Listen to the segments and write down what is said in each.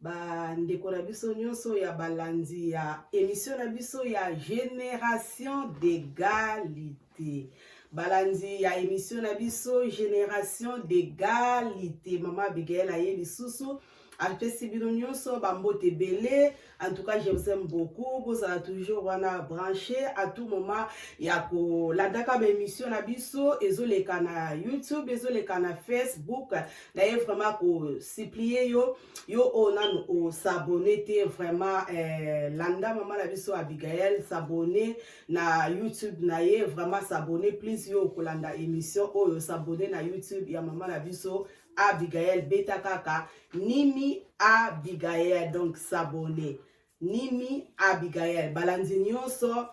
Ba ndeko na biso nyonso ya balandi ya emission na biso ya Generation d'egalite. Balandi ya emission na biso Generation d'egalite. Mama Abigail aye lisusu apesi bino nyonso bambote ebele en tout cas je vous aime beaucoup bozala toujours wana branche à tout moment ya kolandaka baémission na biso ezoleka na youtube ezoleka na facebook naye vraiment ko supplie yo yo oyo nanu osabone te vraiment eh, landa mama na biso abigael sabone na youtube na ye vraiment sabone plus yo okolanda émission oyo sabone na youtube ya mama na biso abigael beta kaka nimi abigael donc sabone nimi abigael balandi nyonso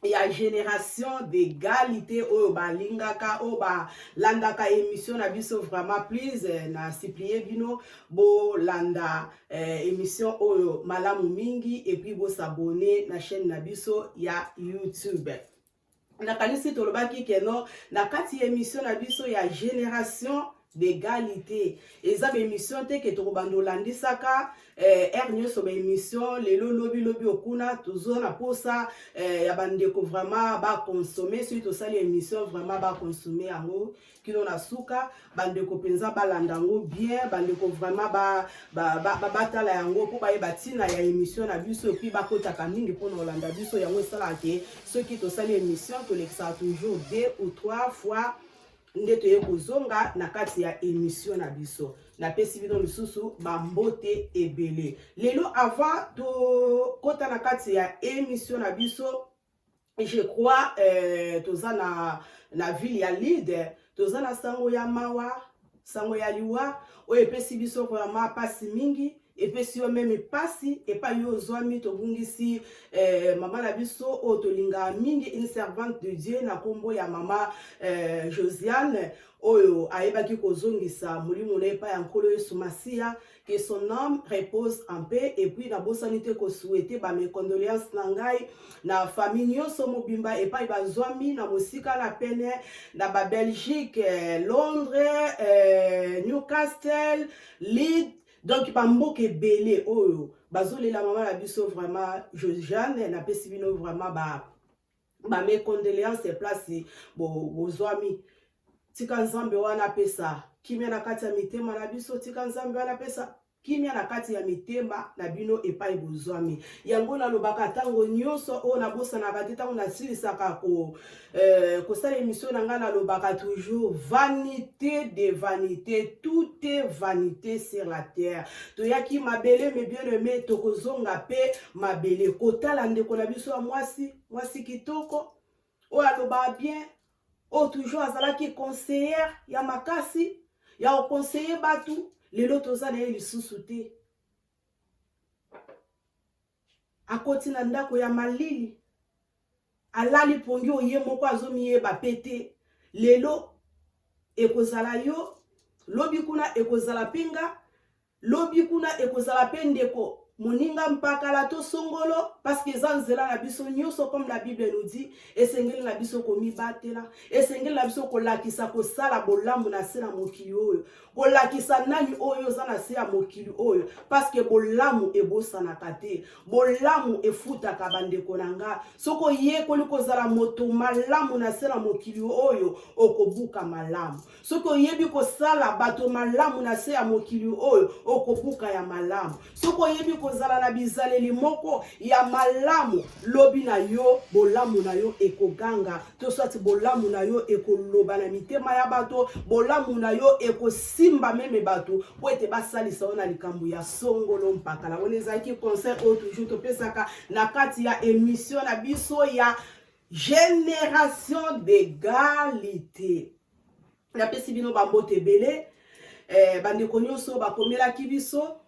ya generation d'egalite oyo balingaka oyo balandaka emission na biso vraiment please eh, na supplie bino bolanda eh, emission oyo malamu mingi epuis bosabone na chaîne na biso ya youtube nakanisi tolobaki keno na kati ya emission na biso ya generation d'égalité eza ba émission te ke tokobanda olandisaka eh, heure nyonso ba émission lelo lobi lobi okuna tozo na posa eh, ya bandeko vraiment baconsomme soki tosali émission vraiment baconsomme yango kino na suka bandeko mpenza balanda yango bien bandeko vraiment batala ba, ba, ba, ba, ba yango mpo bayeba ntina ya émission na biso epuis bakotaka mingi mpo na kolanda biso yango esalaka ke soki tosali émission tolekisaka toujours deux ou trois fois nde toye kozonga na kati ya emission na biso napesi bino lisusu bambote ebele lelo avant tokota na kati ya emission na biso je crois euh, toza na, na ville ya lide toza na sango ya mawa sango ya liwa oyo epesi biso vraiment mpasi mingi epesi yo meme mpasi epai yo ozwami tobungisi eh, mama na biso oyo tolingaka mingi une servante de dieu na nkombo ya mama eh, josiane oyo ayebaki kozongisa molimo na epai ya nkolo yesu masiya que son âme repose en paix et puis nabosani te kosuete bamecondoléance na ngai na famille nyonso mobimba epai bazwami na mosika na pene na babelgique eh, londres eh, newcastle lead donc bamboka ebele oyo bazolela mama na biso vraiment josiane napesi bino vraiment ba bame condoléance place bozwami bo tika nzambe wana apesa kimia na kati ya mitema na biso tika nzambe wana apesa kimia na kati ya mitema na bino epai bozwami yango nalobaka ntango nyonso oyo nabosanaka te ntango nasilisaka ko Euh, kosala émission na ngai nalobaka toujours vanité de vanité tout est vanité sur la terre toyaki mabele me bien aimé tokozonga mpe mabele kotala ndeko na biso ya mwasi mwasi kitoko oyo alobaka bien oyo toujours azalaki conseillere ya makasi ya koconseille bato lelo toza na ye lisusu te Akoti na ndako ya malili, alali pongi oyo ye moko azomiyeba mpe te. Lelo ekozala yo, lobi kuna ekozala mpe nga, lobi kuna ekozala mpe ndeko moninga mpakala to songolo parceke eza nzela na biso nyonso comme la bible nous dit esengeli na biso komibatela esengeli na biso kolakisa kosala bolamu na se na mokili oyo kolakisa nani oyo oza na se ya mokili oyo parceke bolamu ebosanaka te bolamu efutaka bandeko na nga soki oyekoli kozala moto malamu na se na mokili oyo okobuka malamu soki oyebi kosala bato malamu na se ya mokili oyo okobuka ya malamu soki oyebi kozala na bizaleli moko ya malamu lobi na yo bolamu na yo ekoganga to swati bolamu na yo ekoloba na mitema ya bato bolamu na yo ekosimba meme bato mpo ete basalisa yo na likambo ya songolo mpakala wana ezalaki conseil oyo toujours topesaka na kati ya emission na biso ya génération d'égalité napesi bino bambote ebele eh, bandeko nyonso bakomelaki biso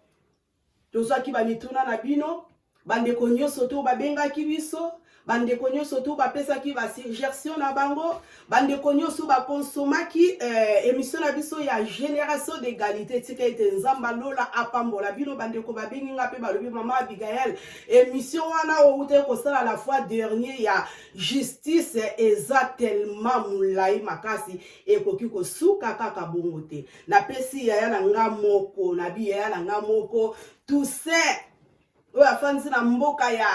tozwaki bamituna na bino bandeko nyonso to babengaki biso bandeko nyonso to bapesaki basuggestion na bango bandeko nyonso bakonsomaki eh, émission na biso ya génération d'égalité tika ete nzambe lola apambola bino bandeko babengi nga mpe balobi mama abigael émission wana owutaki kosala la fois dernier ya justice eza tellement molai makasi ekoki kosuka kaka bongo te napesi yaya na nga moko nabi yaya na nga moko toussaint oyo afandisi na mboka ya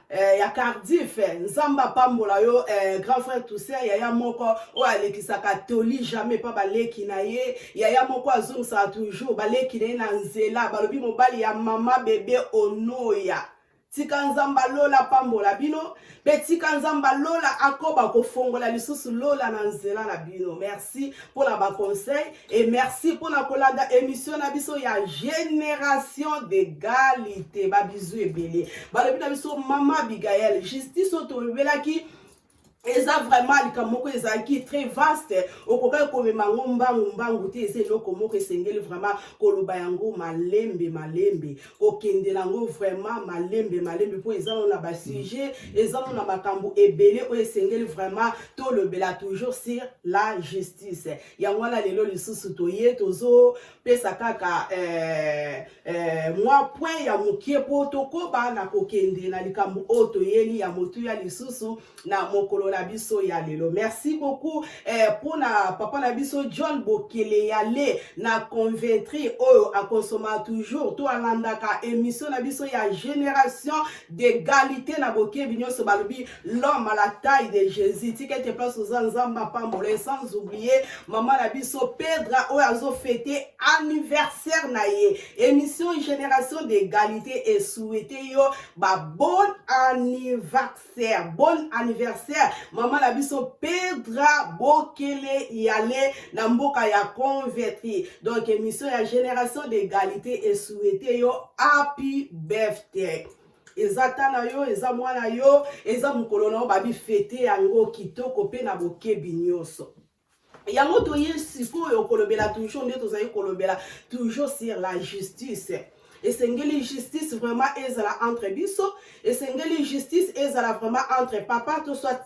eh, ya cardiff nzambe apambola yo eh, grand frère toussaint yaya moko oyo alekisaka toli jamais mpa baleki na ye yaya moko azongisaka toujours baleki na ye na nzela balobi mobali ya mama bebe onoya tika nzamba lola apambola bino mpe tika nzamba lola akoba kofongola lisusu lola na nzela na bino merci mpo na baconseil e merci mpo na kolanda émission na biso ya génération d'égalité babizu ebele balobi na biso mama abigael justice oyo tolobelaki eza vraiment likambo moko ezalaki très vaste okokaki komema yango mbangu mbangu te eza eloko moko esengeli vraiment koloba yango malembe malembe kokende na yango vraiment malembe malembe mpo eza no na basujet eza no na makambo ebele oyo esengeli vraiment tolobela toujours sur la justice yango wana lelo lisusu toye tozo pesa kaka eh, eh, mwa point ya mokie mpo tokoba na kokende na likambo oyo toyeli ya motuya lisusu na mokolo na biso ya lelo merci beaucoup eh, mpo eh, na papa na biso john bokele ya le na conventri oyo akonsoma toujours to alandaka émission na biso ya génération d'égalité na bokebi nyonso balobi l'homme à la taille de Jésus tika ete place oza nzambe apambola ye sans oublier mama na biso Pedra oyo azofete anniversaire na ye émission génération d'égalité esouete yo ba bon anniversaire bon anniversaire mama na biso Pedra Bokele yale na mboka ya converti donc émission ya génération d'égalité esouete yo happy birthday eza tala yo eza mwana yo eza mokolo na yo babi fete yango kitoko mpe na bokebi nyonso yango toye sikoyo kolobela toujours nde tozali kolobela toujours sur la justice esengeli justice vraiment ezala entre biso esengeli justice ezala vraiment entre papa to soit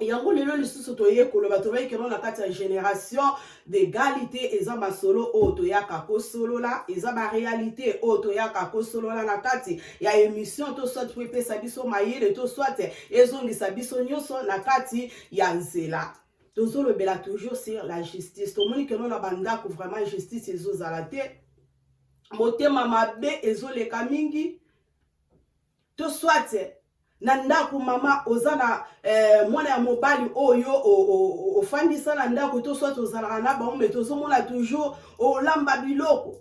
yango lelo lisusu toye koloba toyei keno na kati ya génération d'égalité eza masolo oyo toyaka kosolola eza baréalité oyo toyaka kosolola na kati ya émission to soit po epesa biso mayele to soit ezongisa biso nyonso na kati ya nzela tozolobela toujours sur la justice tomoni keno na bandako vraiment justice ezozala te motema mabe ezoleka mingi to soit na ndako mama oza na eh, mwana ya mobali oyo ofandisa na ndako to soit ozalaka na bango me tozomona toujours olamba biloko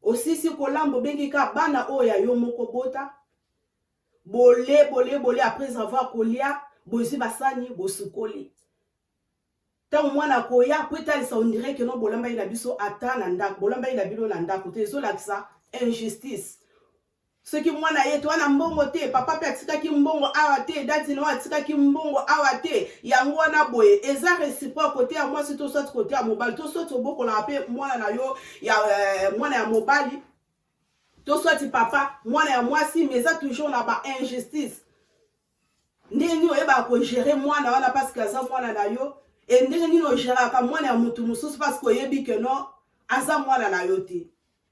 osisi kolamba obengi ka bana oyo ya yo moko bota bole bole bole après avoir kolia bozwi basani bosukoli ntango mwana akoya mpo etalisa ondire keno bolambaki na biso ata na ndako bolambaki na bino na ndako te ezolakisa injustice soki mwana ye toa na mbongo te papa mpe atikaki mbongo awa te dadi nao atikaki mbongo awa te yango wana boye eza reciproque kote ya mwasi to soit kote ya mobali to soit obokolaka mpe mwana na yo ya euh, mwana ya mobali to soit papa mwana ya mwasi mais eza toujours na ba injustice ndenge nini oyebaka kogere mwana wana parce que aza mwana na yo e ndenge nini ogeraka mwana ya motu mosusu parce que oyebi ke non aza mwana na yo te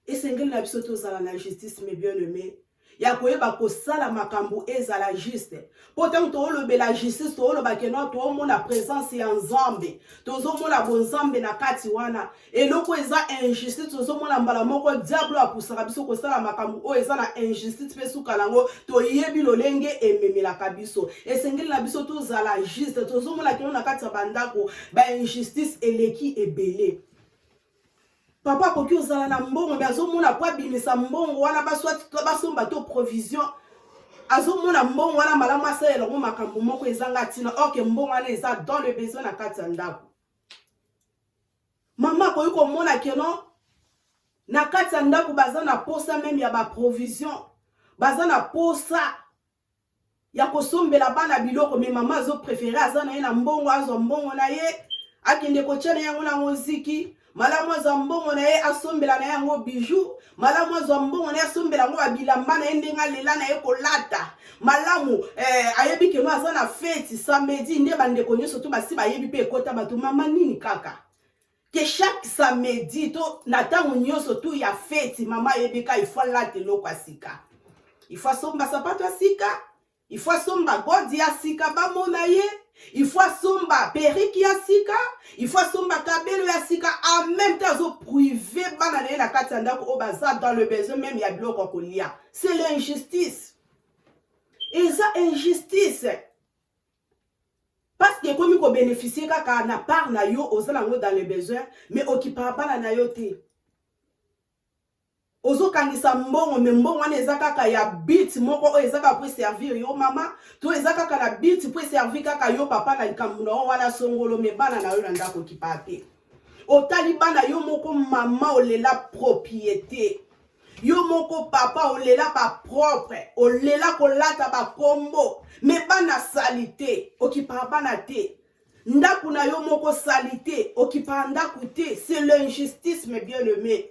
esengeli na biso tozala na justice me bien aime ya koyeba kosala makambo ezala juste mpo ntango toolobela justice tooloba ke non toomona présence ya nzambe tozomona bonzambe na kati wana eloko eza injustice tozomona mbala moko diablo apusaka biso kosala makambo oyo eza na injustice mpe suka nango toyebi lolenge ememelaka biso esengeli na biso tozala juste tozomona kino na kati ya bandako bainjustice eleki ebele papa akoki ozala na mbongo me azomona po abimisa mbongo wana basomba to provision azomona mbongo wana malamu asalela yango makambo moko ezanga ntina orke mbongo wana eza dans le besoin na kati ya ndako mama akoki komona keno na kati ya ndako baza na posa meme ya baprovision baza na posa ya kosombela bana biloko me mama azo prefere aza na ye na mbongo azwa mbongo na ye akende kotya na yango na moziki malamu azwa mbongo na ye asombela na ye yango bijou malamu azwa mbongo na ye asombela yango babilamba na ye ndenge alela na ye kolata malamu eh, ayebi keno aza na feti samedi nde bandeko nyonso to basi bayebi mpe ekota bato mama nini kaka ke chaque samedi to na ntango nyonso tu ya feti mama ayebi ka ifo alata eloko ya sika ifo asomba sapato ya sika ifo asomba godi ya sika bamona ye ifo asomba periki ya sika ifo asomba kabelo ya sika en même temps azoprive bana na ye na kati ya ndako oyo baza dans le besoin meme ya biloko ya kolia c'est l'injustice eza injustice parceke ekomi kobeneficie kaka na part na yo oza nango dans le besoin mais okipaka bana na yo te ozokangisa mbongo me mbongo wana eza kaka ya bit moko oyo eza kaka mpo eservir yo mama to eza kaka na bit mpo eservir kaka yo papa na likambo na yo wana songolo me bana na yo na ndako okipa te otali bana yo moko mama olela propriete yo moko papa olela bapropre olela kolata bakombo me bana salite okipaka bana te ndako na yo moko salite okipaka ndako te c'est l'injustice me bien aimé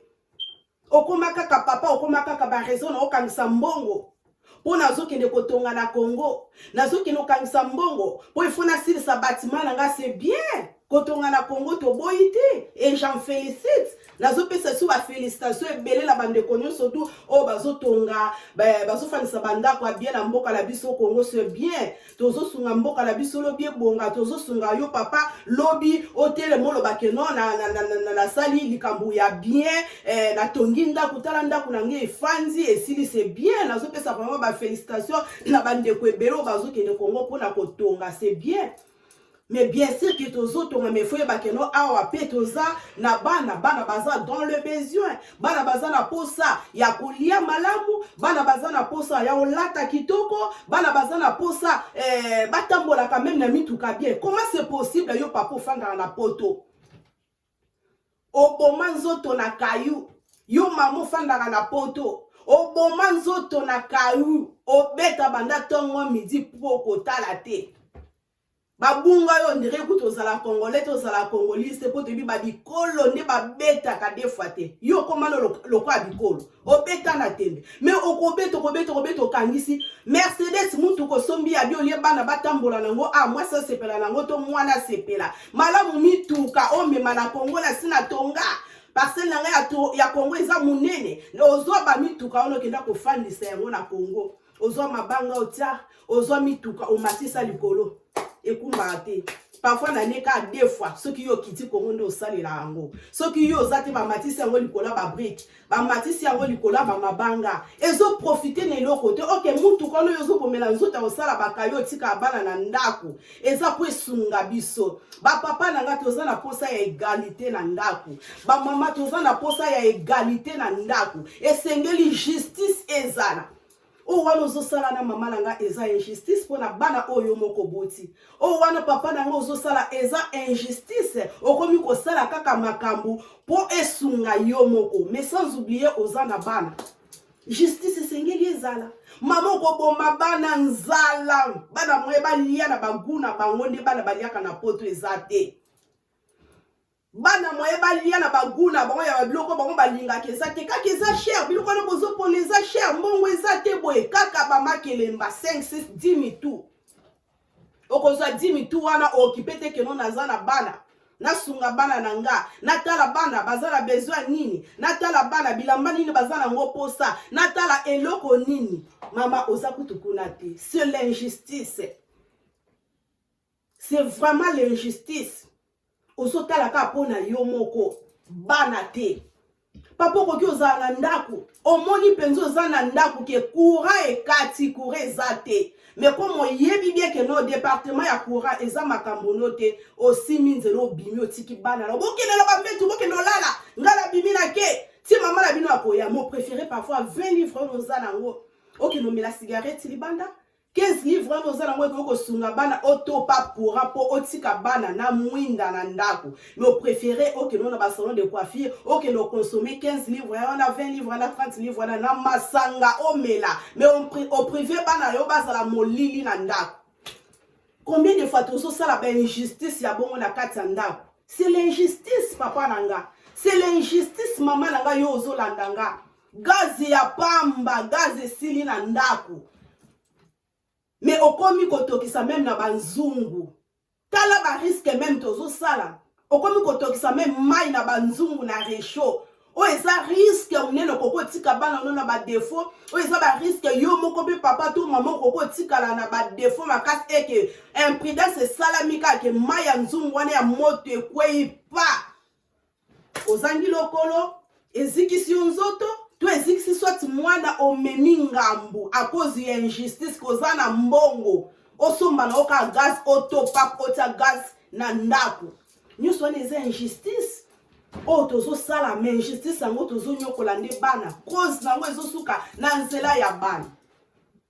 okoma kaka papa okoma kaka baraison na okangisa mbongo mpo nazokende kotonga na congo nazokende kokangisa mbongo mpo ifo nasilisa batima na ngai se bien kotonga na congo toboyi te e j'en félicite nazopesa so bafélicitation ebele na bandeko nyonso tu oyo bazotonga bazofandisa bandako ya bien na mboka na biso congo se bien tozosunga mboka na biso lobi ebonga tozosunga yo papa lobi otelema oloba ke no nasali likambo ya bien eh, natongi ndako tala ndako na ngai efandi esili se bien nazopesa vraiment bafélicitation na bandeko ebele oyo bazokende kongo mpona kotonga se bien mais bien sûr que tozotonga mais faut yeba keno awa mpe toza na bana bana baza dans le besoin bana baza na posa ya kolia malamu bana baza na posa ya kolata kitoko bana baza na posa eh, batambolaka meme na mituka bien comment c'est possible yo papa ofandaka na poto oboma nzoto na kayu yo mama ofandaka na poto oboma nzoto na kayu obeta banda ntongo midi mpo kotala te babunga yo ndire kutu ozala congolais te ozala congolise te mpo toyebi babikolo nde babetaka defwa te yo okomana lokola bikolo obeta na tembe me okobeta okobeta okobeta okangisi mercedes mutuka osombi ya biolie bana batambola nango a ah, mwasi asepela nango to mwana asepela malamu mituka omema na kongo na si na tonga parcele na ngai ya kongo eza monene ozwa bamituka wana okenda kofandisa yango na kongo ozwa mabanga otya ozwa mituka omatisa likolo ekumbaka te parfois na ne kaka deux fois soki yo okiti kongo nde osalela yango soki yo oza te bamatisi yango likolo ya babrike bamatisi yango likolo ya bamabanga ezoprofite na eloko te oke mutuka ono yo ozobomela nzoto ya kosala bakayo otika bana na ndako eza mpo esunga biso bapapa na ngai toza na mposa ya egalite na ndako bamama toza na mposa ya egalite na ndako esengeli justice ezala oyo oh, wana ozosala na mama na ngai eza injustice mpo na bana oyo yo moko boti oyo oh, wana papa na ngai ozosala eza injustice okomi kosala kaka makambo mpo esunga yo moko mais sans oublie oza na bana justice esengeli ezala mama okoboma bana nzala bana moye balia na bagu na bango nde bana baliaka na poto eza te bana moye balia na bagu na bango ya babiloko bango balingaka eza te kaka eza cher biloko wana bozopona eza cher mbongo eza te boye kaka bamakelemba 5 6 10 mitu okozwa dimi tu wana ookipe te keno naza na bana nasunga bana na nga natala bana baza na besoin nini natala bana bilamba nini baza na ngo posa natala eloko nini mama oza kutu kuna te c'est l'injustice c'est vraiment l'injustice ozo tala kaka mpo na yo moko bana te papa okoki ozala na ndako omoni mpenza oza na ndako ke courant ekati courant eza te mais comme oyebi bien ke no departement ya courant eza makambo no te osimi nzela obimi otiki bana na bokende na bambetu bokende olala ngai nabimi na ke ti mama na bino akoya mo préféré parfois 20 livre oyo oza na yango okende omela cigarette libanda 15 000 vraiment oza nango ekoki kosunga bana otopa courant mpo otika bana na mwinda na ndako mais oprefere okende na basalon de coiffure okende oconsomme 15 livre ya wana 20 livre na 30 livre wana na masanga omela mais oprive bana yo bazala molili na ndako combien de fois tozosala bainjustice ya bongo na kati ya ndako c'est l'injustice papa na nga c'est l'injustice mama na nga yo ozolanda nga gaze ya pamba gaze esili na ndako me okomi kotokisa meme na banzungu tala bariske meme tozosala okomi kotokisa meme mai na banzungu na rechaud oyo eza riske monene okoki otika bana no na badefaut oyo eza bariske yo moko mpe papa to mama okoki otikala na badefaut makasi eke imprudence esalami kaka ke mai ya nzungu wana ya moto ekwei pa ozangi lokolo ezikisi yo nzoto to ezikisi soit mwana omemi ngambu a cause ya injustice koza na mbongo osomba na oka gaz otopa otya gaz na ndako nyonso wana eza injustice oyo tozosala ma injustice yango tozonyokola nde bana cause na yango ezosuka na nzela ya bana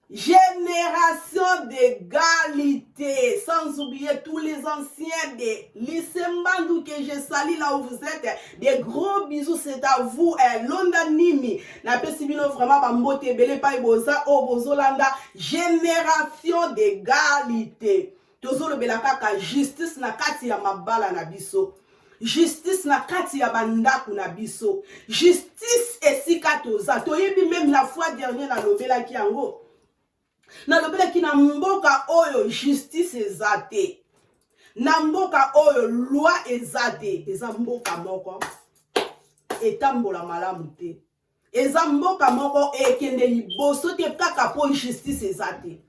Génération d'égalité, sans oublier tous les anciens des lycées Mbandou que je salue là où vous êtes. Des gros bisous, c'est à vous. Eh, Londa Nimi, na pesibino vraiment bambote ebele pa boza o oh, bozolanda génération d'égalité. tozolobela kaka justice na kati ya mabala na biso justice na kati ya bandako na biso justice esika toza toyebi meme la fois dernier nalobelaki yango nalobelaki na mboka oyo justice eza te na mboka oyo loi eza te eza mboka moko etambola malamu te eza mboka moko ekende liboso te kaka mpo justice eza te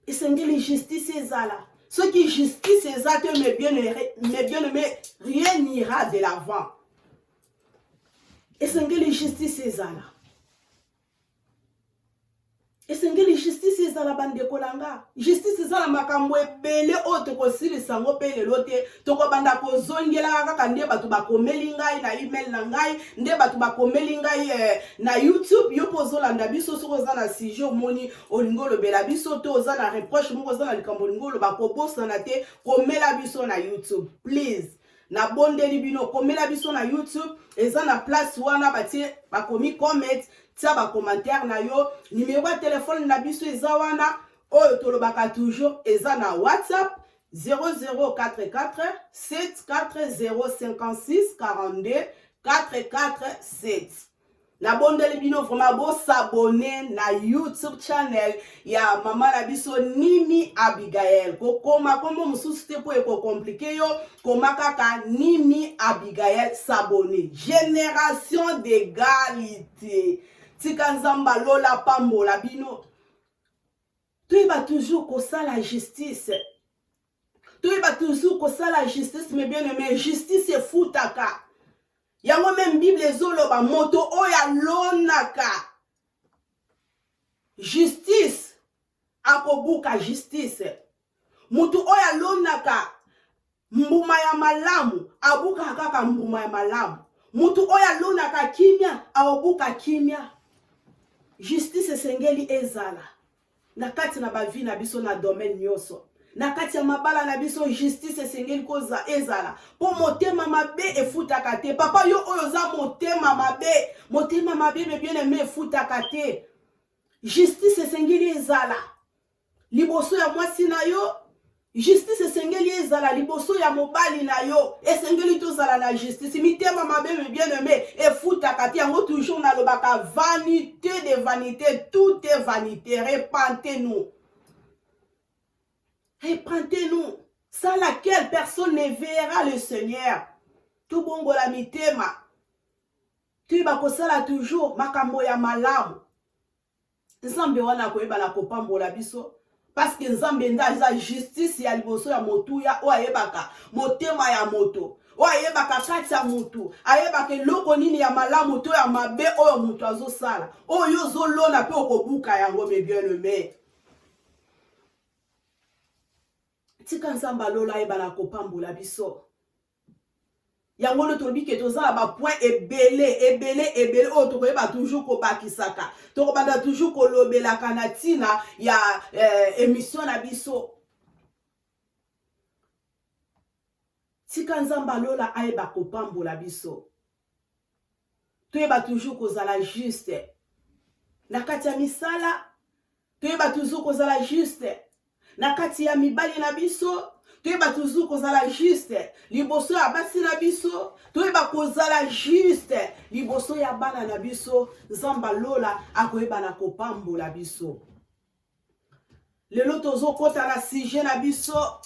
esengeli justice ezala soki justice eza te mais bien aimé rien n'ira de l'avant esengeli justice ezala esengeli justice ezala bandeko na nga justice eza na makambo ebele oyo tokosilisa yango mpe lelo te tokobanda kozongelaka kaka nde bato bakomeli ngai na email na ngai nde bato bakomeli ngai eh, na youtube yo mpo ozolanda biso soki oza na sujet omoni olingi olobela biso to oza na reproche moko oza na likambo olingi oloba kobosana te komela biso na youtube please nabondeli bino komela biso na youtube eza na place wana batie bakomi comment tia bacommentaire na yo nimero ya telefone na biso eza wana oyo tolobaka toujours eza na whatsapp 0044 74056 42 447 nabondeli bino vraiment bosabone na youtube channel ya mama na biso nimi abigael kokoma nkombo mosusu te mpo ekokomplike yo koma kaka nimi abigael sabone génération d'egalite tika nzambe alola pambola bino toyeba toujours kosala justice toyeba toujours kosala justice me bien aime justice efutaka yango meme bible ezoloba moto oyo alonaka justice akobuka justice moto oyo alonaka mbuma ya malamu abukaka kaka mbuma ya malamu moto oyo alonaka kimia akobuka kimia justice esengeli ezala na kati na bavi na biso na domaine nyonso na kati ya mabala na biso justice esengeli koza ezala mpo motema mabe efutaka te papa yo oyo oza motema mabe motema mabe bebiene me efutaka te justice esengeli ezala liboso ya mwasi na yo Justice esengeli ezala liboso ya mobali na yo, esengeli tozala na justice. Mitema mabe me bien aime efutaka te, yango toujours nalobaka vanité de vanité, tout est vanité. Repentez-nous, repentez-nous, sans laquelle personne ne verra le Seigneur. Tobongola mitema, toyeba kosala toujours makambo ya malamu. nzambe wana akoyeba na kopambola biso parceke nzambe nde aza justice ya liboso ya motuya oyo ayebaka motema ya moto oyo ayebaka kati ya motu ayebaka eloko nini ya malamu to ya mabe oyo moto azosala oyo ozolona mpe okobuka yango mebieleme tika nzambe alola ayeba na kopambola biso yango nde tolobi ke toza na bapoint ebele ebele ebele oyo tokoyeba toujours kobakisaka tokobanda toujours kolobelaka na ntina ya eh, émission na biso tika nzambe alola ayeba kopambola biso toyeba toujours kozala juste na kati ya misala toyeba toujours kozala juste na kati ya mibali na biso toyeba toujours kozala juste liboso ya basi na biso toyeba kozala juste liboso ya bana na biso nzambe lola akoyeba na kopambola biso lelo tozokota na sujet na biso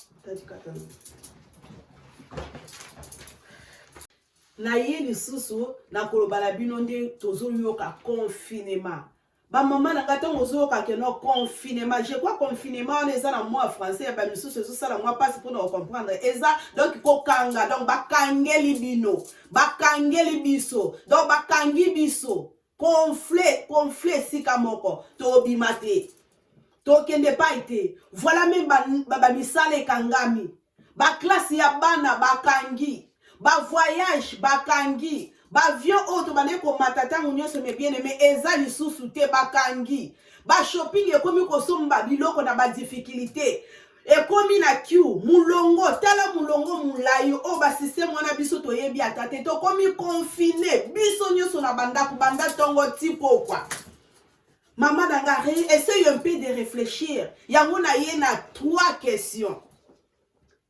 naye lisusu nakoloba na bino nde tozoyoka confinement bamama na ngai ntango ozoyoka keno confinement je crois confinement wana eza na mwa français ya bamisusu ezosala mwa mpasi mpona kocomprendre eza donc kokanga donc bakangeli bino bakangeli biso donc bakangi biso Confle, confle esika moko. Tobima te. Tokende epai te. Voilà meme ba, ba, ba misala ekangami. Ba classe ya bana bakangi. Ba voyage bakangi. Baavion oyo tobandaki komata ntango nyonso me bien aime eza lisusu te bakangi. Ba shopping ekomi kosomba biloko na ba difficulté. ekomi na kiu mulongo tala mulongo molai oyo basysteme wana biso toyebi ata te tokomi confine biso nyonso na bandako banda ntongo ti pokwa mama na nga essaye un peu de réfléchir yango na ye na trois questions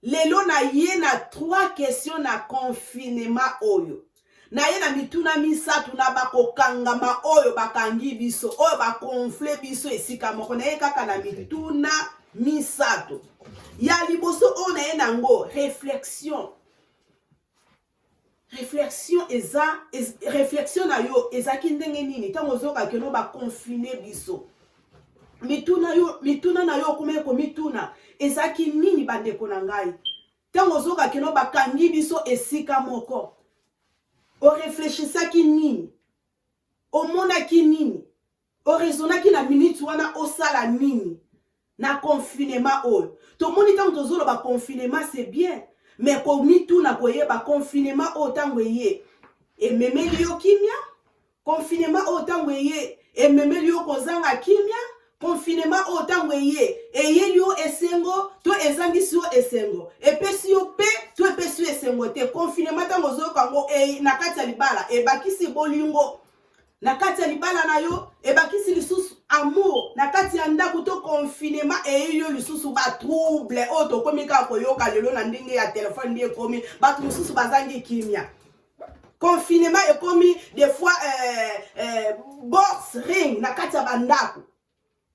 lelo na ye na trois questions na confinement oyo na ye na mituna misato na bakokangama oyo bakangi biso oyo bakonfle biso esika moko na ye kaka na mituna misato ya liboso oyo na ye na yango reflexion reflexion eza ez, reflexion na yo ezalaki ndenge nini ntango ozokaki no bakonfine biso mituna yo mituna na yo okomaki komituna ezalaki nini bandeko na ngai Ntango ozoka kino bakangi biso esika moko, oreflechisaki nini? Omonaki nini? Orezonaki na miniti wana osala nini? na confinema oyo tomoni ntango tozoloba confinema c'est bien me komituna koyeba confinema oyo ntango eye ememeli yo kimia Confinement oyo ntango eye ememeli yo kozanga kimia, confinement oyo ntango eye eyeli yo esengo to ezangisi yo esengo, epesi yo pe to epesi yo esengo te. Confinement ntango ozoyoka yango e, na kati ya libala ebakisi bolingo na kati ya libala na yo, ebakisi lisusu amour na kati ya ndako to confinement eyeyi yo lisusu batrouble oyo tokomi kaka koyoka lelo na ndenge ya telefone nde ekomi bato mosusu bazangi kimia confinement ekomi des fois euh, euh, box ring na kati ya bandako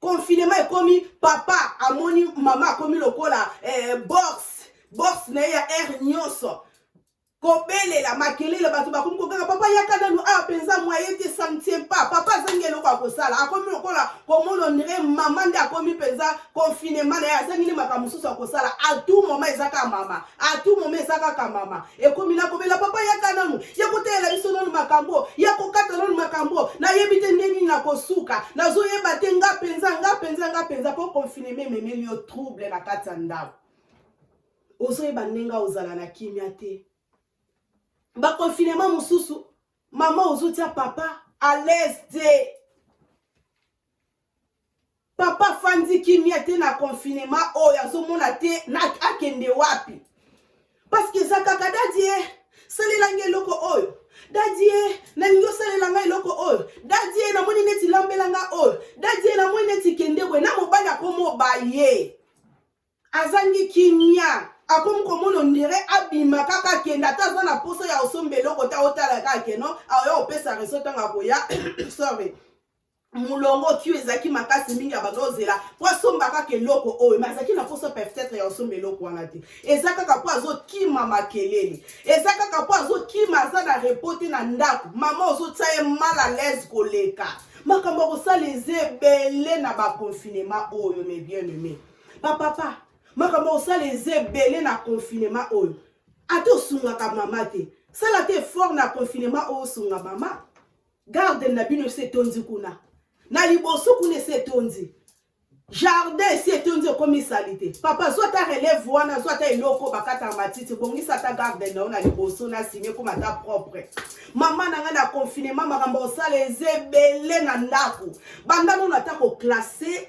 confinement ekomi papa amoni mama akomi lokola euh, box box na ye ya aire nyonso kobelela makelele bato bakomi kokanga papa yaka nanu awa ah, mpenza moye te ça ne tient pas papa azangi eloko ya kosala akomi lokola komona onire mama nde akomi mpenza confinement na ye azangi nde makambo mosusu ya kosala a tout moment eza kaka mama a tout moment eza kaka mama ekomi na kobela papa yaka nanu ya kotalela biso nanu makambo ya kokata nanu makambo nayebi te nde nini nakosuka nazoyeba te nga mpenza nga mpenza nga mpenza mpo confineme ememeli yo trouble na kati ya ndako ozoyeba ndenge ozala na kimia te baconfinema mosusu mama ozotia papa alaise te papa afandi kimia te na confinement oyo azomona te na akende wapi parceke eza kaka dadie salelanga eloko oyo dadie nalingi osalela nga eloko oyo dadie namoni neti lambela nga oyo dadie namoni neti kende boye na mobali akomoba ye azangi kimia akomi komona ondire abima kaka akenda ata aza na mposa ya osomba eloko te aotala kaka keno aoya opesa reso ntango akoya sorry molongo kio ezalaki makasi mingi abanda ozela mpo asomba kaka eloko oyo me azalaki na mposa peut-être ya kosomba eloko wana te eza kaka mpo azokima makelele eza kaka mpo azokima aza na repo te na ndako mama ozotia ye mal à l'aise koleka makambo ya kosala eza ebele na baconfinement oyo me bien aimé bapapa makambo ya kosala eza ebele na confinement oyo ata osungaka mama te sala te effort na confinement oyo osunga mama garden na bino esi etondi kuna na liboso kuna esi etondi jardin esi etondi ekomi salite papa zwa ata relève wana zwa ata eloko bakata matiti bongisa ata garden na yo na liboso na simi ekoma ata propre mama na ngai na confinement makambo osala eza ebele na ndako bandano na ata koklasse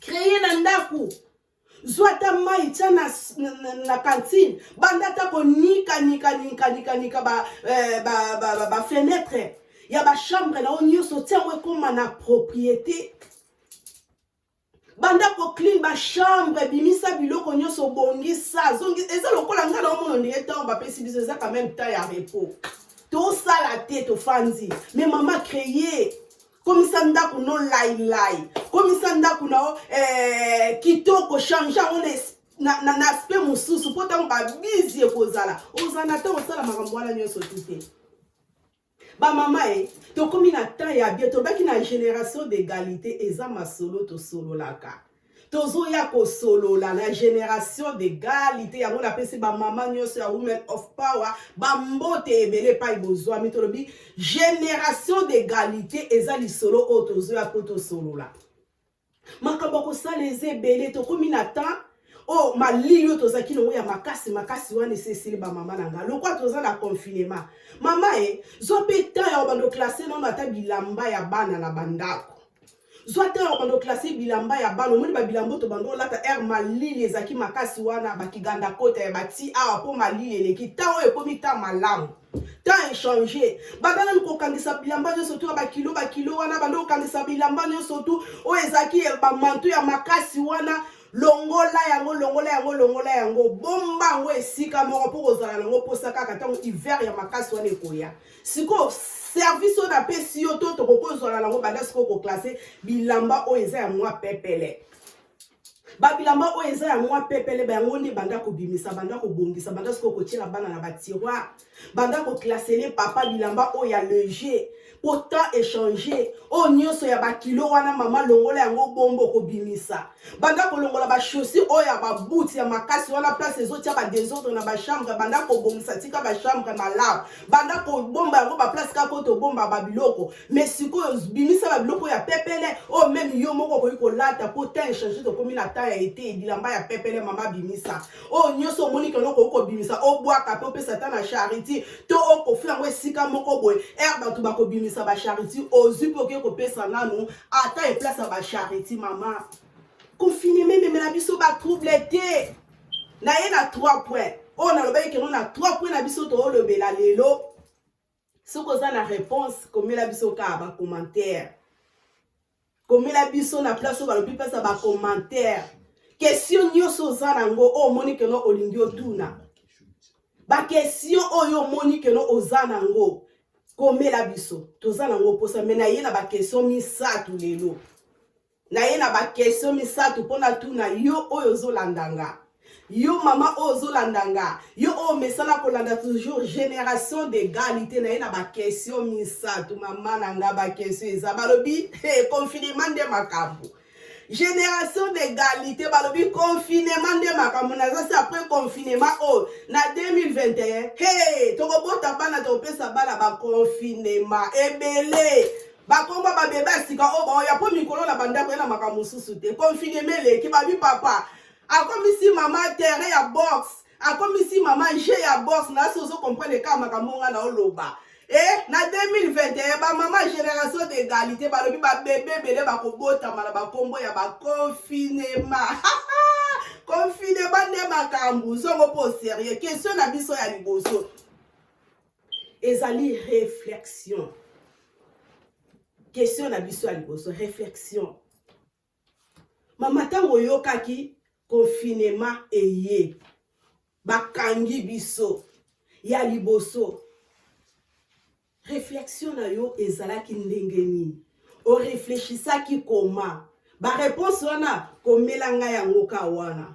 kreye na ndako zwa ata mai tya na, na, na, na kantine banda ata konikanikanikanikanika bafenetre eh, ba, ba, ba, ba ya bachambre na yo nyonso tia yango ekóma na propriété banda koclean bachambre ebimisa biloko nyonso obongisa eza lokola ngai naomona ondenge ntango bapesi biso eza quand même temps ya repos tosala te tofandi mais mama créer komisa ndako no lailai komisa ndako na yo eh, kitoko change yango na na, na aspect mosusu mpo ntango babizi ekozala ozala na ntango osala makambo wana nyonso tu te bamama e tokomi na temps ya bie tolobaki na génération d'égalité eza masolo tosololaka tozoya kosolola na generation d'egalite yango napesi bamama nyonso ya women of power bambote ebele epai bozwami tolobi generation d'egalite eza lisolo oyo tozoya mpo tosolola makambo ya kosala eza ebele tokomi na temps oyo oh, malili oyo tozalaki nango ya makasi makasi wana esesili bamama na ngai lokola toza na confinement mama e zwa mpe temps ya obanda oklase nano ata bilamba ya bana na bandako zwa te oyo bando classe bilamba ya bana omoni babilamba to bando olata air malili ezalaki makasi wana bakiganda kota ya bati awa mpo malili eleki ntango oyo ekomi ta malamu temps echange babalani kokangisa bilamba nyonso tu ya bakilo bakilo wana bando kokangisa bilamba nyonso tu oyo ezalaki bamantu ya makasi wana longola yango longola yango longola yango bomba yango esika moko mpo kozala na yango mposa kaka ntango hiver ya makasi wana ekoya sikoyo service oyo napesi yo to tokoki ozwala nango banda sikoyo koklase bilamba oyo eza ya mwa pepele babilamba oyo eza ya mwa pepele bayango nde banda kobimisa banda kobongisa banda sikoyo kotyela bana na batiroir banda koklasele papa bilamba oyo ya leger po temps échange oyo nyonso ya bakilo wana mama longola yango bombo kobimisa banda kolongola bachaussure oyo ya babuti ya makasi wana place ezotya badesordre na bachambre banda kobongisa tika bachambre malamu banda kobomba yango baplace kaka oyo tobomba babiloko me sikoyo bimisa babiloko ya pepele oyo oh, meme yo moko okoki kolata mpo temps echange tokomi na temps ya ete bilamba ya pepele mama bimisa oyo nyonso omoni keno okoki kobimisa obwaka mpe opesa ata na charity to okofla yango esika moko boye ere bato bakobimisa bacharity ozwi mpe okoki kopesa nanu ata eplace ya bacharity mama confineme ememela biso batrouble te na ye na 3 point oyo nalobaki keno na 3 point na biso toolobela lelo soki oza na réponse komela biso kaka ba commentaire komela biso na place oyo balobi mpasa ba commentaire question nyonso oza nango oyo omoni keno olingi otuna bakestion oyo omoni keno oza nango komela biso toza nango mposa me naye na bakestion misato lelo naye na ba question misato mpo natuna yo oyo ozolanda nga yo mama oyo ozolanda nga yo oyo omesana kolanda toujours génération d'égalité naye na ba question misato mama na nga ba question eza balobi hey, confinement nde makambo génération d'égalité balobi confinement nde makambo naza se après confinement oyo na 2021 hey, tokobota bana tokopesa bana baconfinement ebele bakomba babebe ya sika oyo baoya mpo mikolo na bandako ya na makambo mosusu te konfineme eleki babi papa akomisi mama terrain ya boxe akomisi mama jeu ya boxe nasi ozo comprendre kaka makambo nga na oloba e eh, na 2021 bamama génération d'égalité balobi babebe ebele bakobotama na bakombo ya baconfinema confinema nde makambo zongo mpo serieux question na biso ya liboso ezali reflexion question na biso ya liboso reflexion mama ntango oyokaki confinement eye bakangi biso ya liboso reflexion na yo ezalaki ndenge nini oreflechisaki koma bareponse wana komela ngai yango ka wana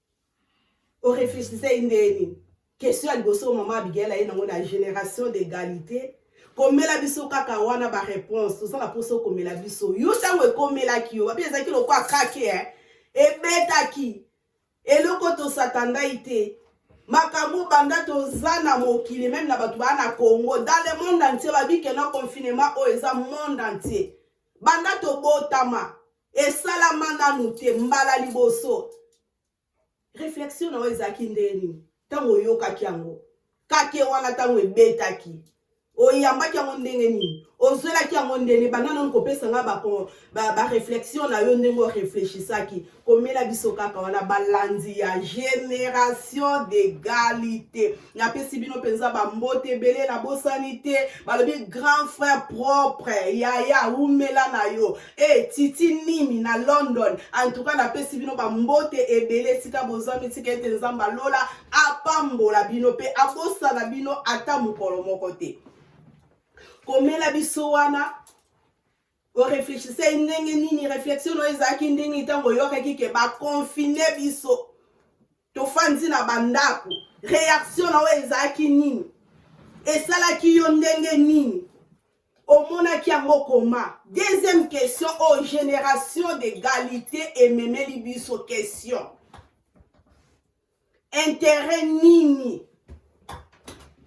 o reflechisei ndeni question ya liboso mama abigail aye nango na génération d'égalité komela biso kaka wana ba réponse toza na mposa okomela biso yo ntango ekomelaki yo babi ezalaki lokola kake eh? ebetaki eloko tosatandai te makambo banda toza na mokili meme na bato baa na congo dans le monde entier babikeno confinement oyo eza monde entier banda tobotama esalama nanu te mbala liboso reflexion na yo ezalaki ndenge nini ntango oyokaki yango kake wana ntango ebetaki oyambaki yango ndenge nini ozwelaki yango ndenge banda nanu kopesa ngai bareflexion na yo ndenge oreflechisaki komela biso kaka wana balandi ya génération d'égalité napesi bino mpenza bambote ebele na bosani te balobi grand frère propre yaya umela na yo Hey, eh, titi nimi na london antuka napesi bino bambote ebele esika bozwami tika ete nzambe alola apambola bino mpe abosana bino ata mokolo moko te komela biso wana oreflechisai ndenge nini reflexion oyo ezalaki ndenge ntango oyokaki ke bakonfine biso tofandi na bandako reaction na oyo ezalaki nini esalaki yo ndenge nini omonaki yango koma deuxième question o oh, génération d'égalité ememeli biso question intérêt nini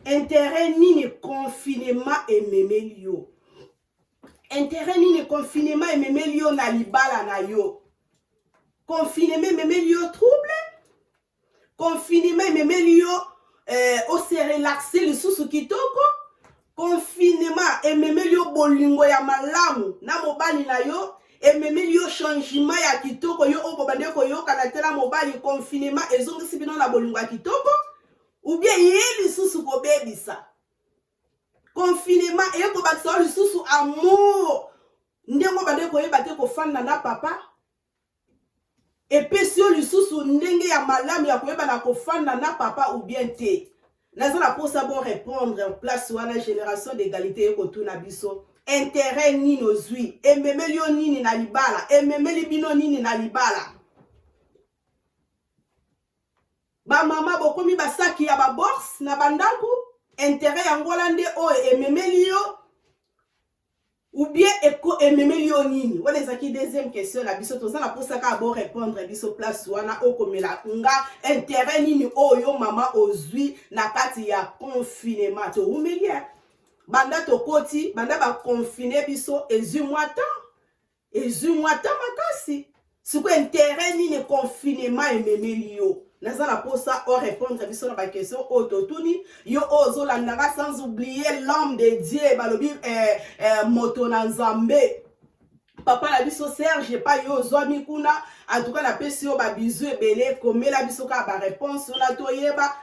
intérêt nini confinement ememeli yo interet nini confinement ememeli yo na libala na yo confinement ememeli yo trouble confinement ememeli yo eh, oserelaxe lisusu kitoko confinement ememeli yo bolingo ya malamu na mobali na yo ememeli yo changement ya kitoko yo oyo bobandi koyokana te na mobali confinement ezongisi bino na bolingo ya kitoko ubie ye lisusu kobebisa confinement eye kobakisa yo lisusu amour ndenge obande koyeba te kofanda na papa epesi yo lisusu ndenge ya malamu ya koyeba na kofanda na papa ou bien te naza na mposa bo répondre place wana génération d'égalité eye kotuna biso intere nini ozwi ememeli yo nini na libala ememeli bino nini na libala Ba mama bokomi ba saki ya ba bourse na ba ndaku interet ya ngola nde oyo ememeli yo ou bien eko ememeli yo nini wana ezalaki deuxième question na biso toza na mposa kaka bo répondre biso place wana okomela nga intérêt nini oyo mama ozwi na kati ya confinement towumeli banda tokoti banda baconfine biso ezwi mwa temps ezwi mwa ta makasi sikoyo interet nini confinement ememeli yo naza na mposa o répondre biso na baquestion oyo totuni yo oyo ozolandaka sans oublier l'homme de dieu balobi eh, eh, moto na nzambe papa na biso serge epai yo ozwami kuna antuka napesi yo babizu ebele komela biso kaka bareponse wana toyeba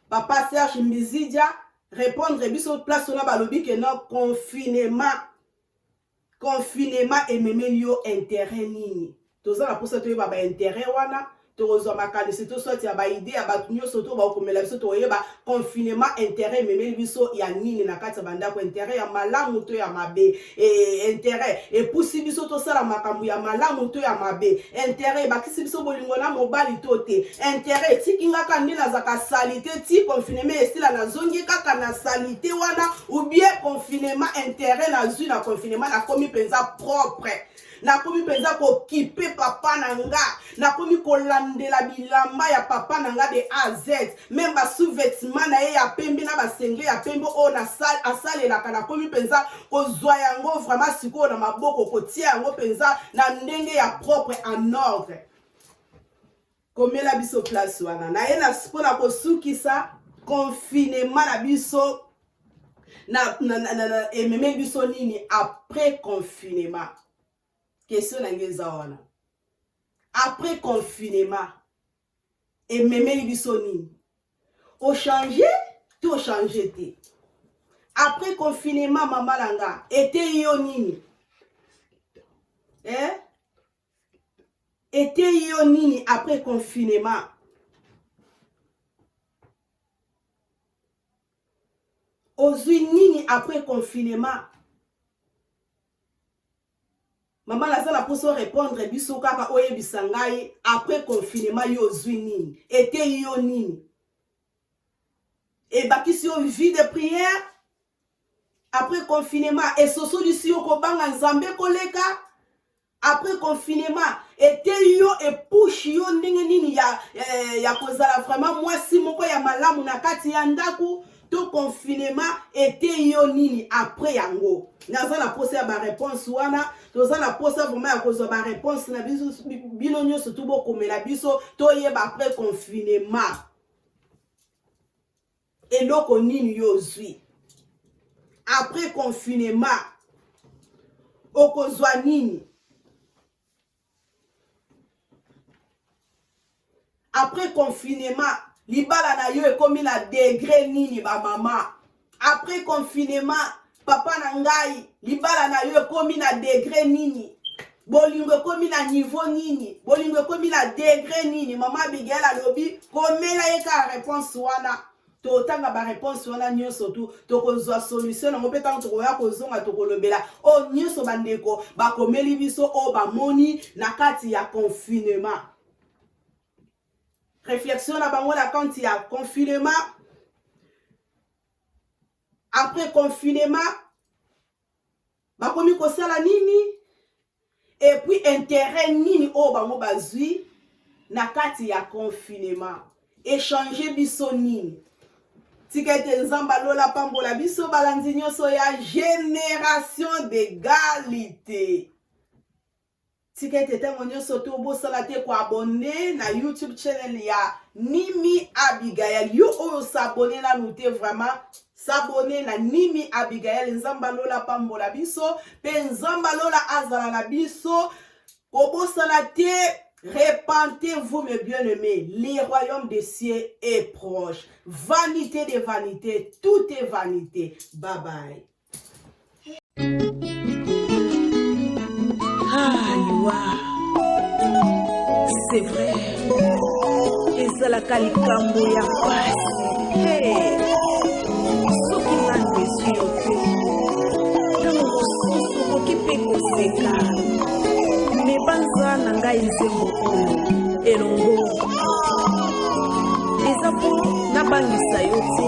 papa serge mbizidia répondre biso place wana balobi ke non confinement Confinement ememeli yo interet nini? Toza na posa toyeba ba interet wana, tokozua makanisi to soit ya ba idee ya batu nioso to bakokomela biso tokoyeba confinement interet ememeli biso ya nini na kati ya ba ndaku, interet ya malamu to ya mabe? Eeh interet epusi biso tosala makambu ya malamu to ya mabe? Interet ebakisi biso bolingo na mobali to te? Interet etiki nga kaka nde nazaka salite ti confinement esila nazongi kaka na salite wana? ou bien confinement intérêt nazwi na confinement nakomi mpenza propre nakomi mpenza kokipe papa na nga nakomi kolandela bilamba ya papa na nga de a z meme basous-vetement na ye ya pembe na basengle ya pembe oyo asalelaka nakomi mpenza kozwa yango vraiment sikoyo na maboko kotia yango mpenza na ndenge ya propre en ordre Komela biso place wana na ye mpo na kosukisa confinement na biso na, na, na, na, na ememe biso nini après confinement question na ngai eza wana après confinement ememeli biso nini ochange to ochange te après confinement mama na nga eteyi yo nini eh? eteyi yo nini après confinement ozwi nini après confinement mama naza na mposa orépondre biso kaka oyebisa ngai après confinement yo ozwi nini eteyi yo nini ebakisi yo vie de prière après confinement esosolisi yo kobanga nzambe koleka après confinement eteyi yo epushi yo ndenge nini ya, ya, eh, ya kozala vraiment mwasi moko ya malamu na kati ya ndako to confinement eteyi yo nini après yango naza na mposa ya bareponse wana toza na mposa vraimen ya kozwa bareponse na biso bino nyonso tu bokomela biso toyeba après confinement eloko nini yo ozwi après confinement okozwa nini après confinement libala na yo ekomi na degre nini bamama après confinement papa na ngai libala na yo ekomi na degre nini bolingo ekomi na niveau nini bolingo ekomi na degre nini mama abigail alobi komela ye kaka reponse wana totanga bareponse wana nyonso tu tokozwa solution yango mpe ntango tokoya kozonga tokolobela oyo oh, nyonso bandeko bakomeli biso oyo oh, bamoni na kati ya confinement réflexion na bango na kante ya confinement Après confinement bakomi kosala nini et puis intérêt nini oyo bango bazwi na kati ya confinement echange biso nini tika ete nzambe alola pambola biso balanzi nyonso ya generation d'egalite Tika ete ntango nyonso to bosala te ko abonne na YouTube channel ya Nimi Abigail. Yo oyo s'abonne nanu te vraiment s'abonne na Nimi Abigail. Nzambe lola pambola biso pe Nzambe lola azala na biso. Kobosana te Repentez-vous, mes bien-aimés, le royaume des cieux est proche. Vanité des vanités, tout est vanité. Bye bye. c'est vrai ezalaka likambo ya pasi soki nanu ezwi yo te ntango mosusu okoki mpe koseka me banza na ngai nzembo oyo elongo eza mpo nabangisa yo te